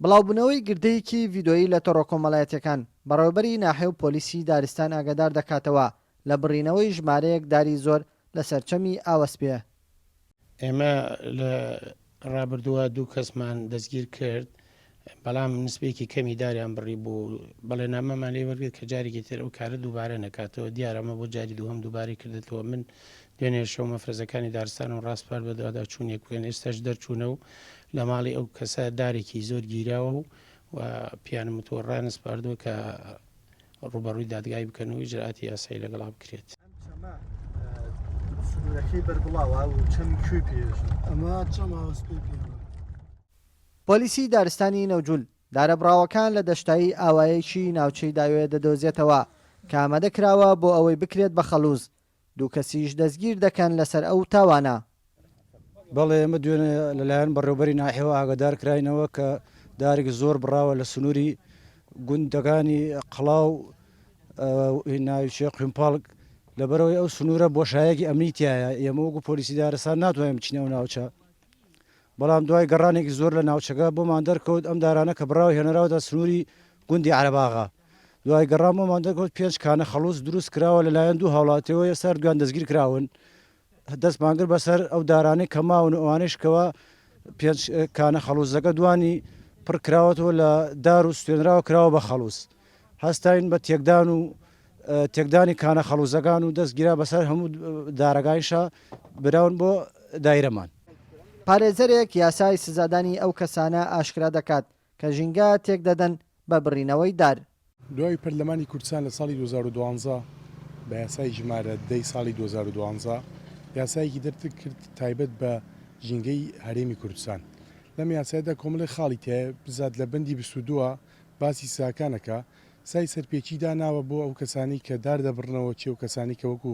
بڵاوبوونەوەی گردەیەکی ڤیدۆیی لە تۆڕە کۆمەڵایەتییەکان، بەڕێوەبەری ناحیە و پۆلیسی دارستان ئاگادار دەکاتەوە لە بڕینەوەی ژمارەیەک داری زۆر لەسەر چەمی ئاوەسپێ. ئێمە لە ڕابردووە دوو کەسمان دەستگیر کرد، بەڵام نسبەیەکی کەمی داریان بڕیبوو، بەڵێننامەمان لێ وەرگرت کە جارێکی تر ئەو کارە دووبارە نەکاتەوە، دیارە ئەمە بۆ جاری دووهەم دووبارەی کردۆتەوە، من دوێنێ شەو مەفرەزەکانی دارستان و ڕاسپارد بە دواداچوونێک بوویان، ئێستاش دەرچوونە و لە ماڵی ئەو کەسە دارێکی زۆر گیراوە و و پیانم وتووە ڕایانسپاردووە کە ڕووبەڕووی دادگای بکەن و ئیجرئاتی یاسایی لەگەڵا بکرێت. سنوورەکەی بەربڵاوە و چەمی کوێی پێیەژن. ئەمە چەمە سپێی پێیەژن. پۆلیسی دارستانی نەوجول دارەبڕاوەکان لە دەشتایی ئاوایەکی ناوچەی داوێ دەدۆزێتەوە کە ئامادەکراوە بۆ ئەوەی بکرێت بە خەڵوز، دوو کەسیش دەستگیر دەکەن لەسەر ئەو تاوانە. بەڵێ ئێمە دوێنێ لەلایەن بەڕێوەبەری ناحیەوە ئاگادار کراینەوە کە دارێکی زۆر بڕاوە لە سنووری گوندەکانی قڵاو و ناوچەی قویمپەڵگ، لەبەرئەوەی ئەو سنوورە بۆشایەکی ئەمنی تیایە، ئێمە وەکو پۆلیسی دارستان ناتوانین بچینە ئەو ناوچە، بەڵام دوای گەڕانێکی زۆر لە ناوچەکە بۆمان دەرکەوت ئەم دارانە کە بڕاو هێنراوەتە سنووری گوندی عەرەباغە. دوای گەڕان بۆمان دەرکەوت پێنج کانە خەڵوز دروست کراوە لەلایەن دوو هاوڵاتیەوە ئێستا هەردوویان دەستگیر کراون دەستمان کرد بەسەر ئەو دارانەی کە ماون و ئەوانەیش کەوە پێنج کانە خەڵوزەکە دوانی پڕ کراوەتەوە لە دار و سوێنراوە کراوە بە خەڵوز هەستاین بە تێکدان و تێکدانی کانە خەڵوزەکان و دەستگیرا بەسەر هەموو دارەکانیشا براون بۆ دایرەمان پارێزەرێک یاسای سزادانی ئەو کەسانە ئاشکرا دەکات کە ژینگە تێکدەدەن بە بڕینەوەی دار. دوای پەرلەمانی کوردستان لە ساڵی دوو هەزار و دوازدە بە یاسای ژمارە دە ی ساڵی دوو هەزار و دوازدە یاسایەکی دەرکرد تایبەت بە ژینگەی هەرێمی کوردستان لەم یاسایەدا کۆمەڵێک خاڵی تیایە بزات لە بەندی بیست و دوو باسی سزاکان ئەکا سای سەرپێچی داناوە بۆ ئەو کەسانەی کە دار دەبڕنەوە چی ئەو کەسانەی کە وەکو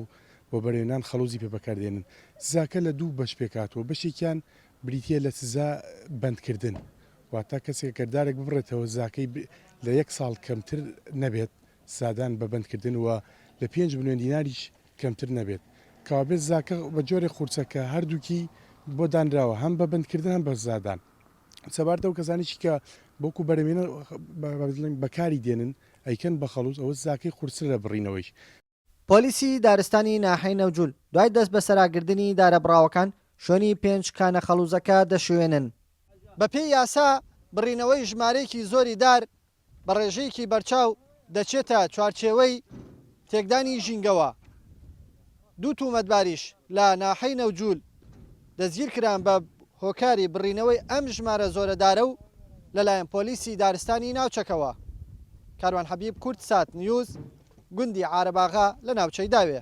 وەبەرێنان خەڵوزی پێ بەکاردێنن سزاکە لە دوو بەش پێکهاتووە بەشێکیان بریتییە لە سزا بەندکردن، واتە کەسێک گەر دارێک ببڕێتەوە سزاکەی لە یەک ساڵ کەمتر نەبێت، سزادان بە بەندکردن، و لە پێنج ملیۆن دیناریش کەمتر نەبێت، کەوابێت سزاکە بە جۆرێک قورسە کە هەردووکی بۆ دانراوە هەم بە بەندکردن هەم بە سزادان. سەبارەت ئەو کەسانەیشی کە بەوکو بەرەمێنەر بەکاری دێنن ئەیکەن بە خەڵوز ئەوە سزاکەی قورسترە لە بڕینەوەیش. پۆلیسی دارستانی ناحیەی نەوجول دوای دەستبەسەراگردنی دارەبڕاوەکان شوێنی پێنج کانە خەڵوزەکە دەشوێنن. بەپێی یاسا بڕینەوەی ژمارەیەکی زۆری دار بە ڕێژەیەکی بەرچاو دەچێتە چوارچێوەی تێکدانی ژینگەوە، دوو تومەتباریش لە ناحیەی نەوجول، دەستگیرکران بە هۆکاری بڕینەوەی ئەم ژمارە زۆرە دارە و لەلایەن پۆلیسی دارستانی ناوچەکەوە. کاروان حەبیب کوردسات نیوز، گوندی عارەباغا لە ناوچەی داوێ.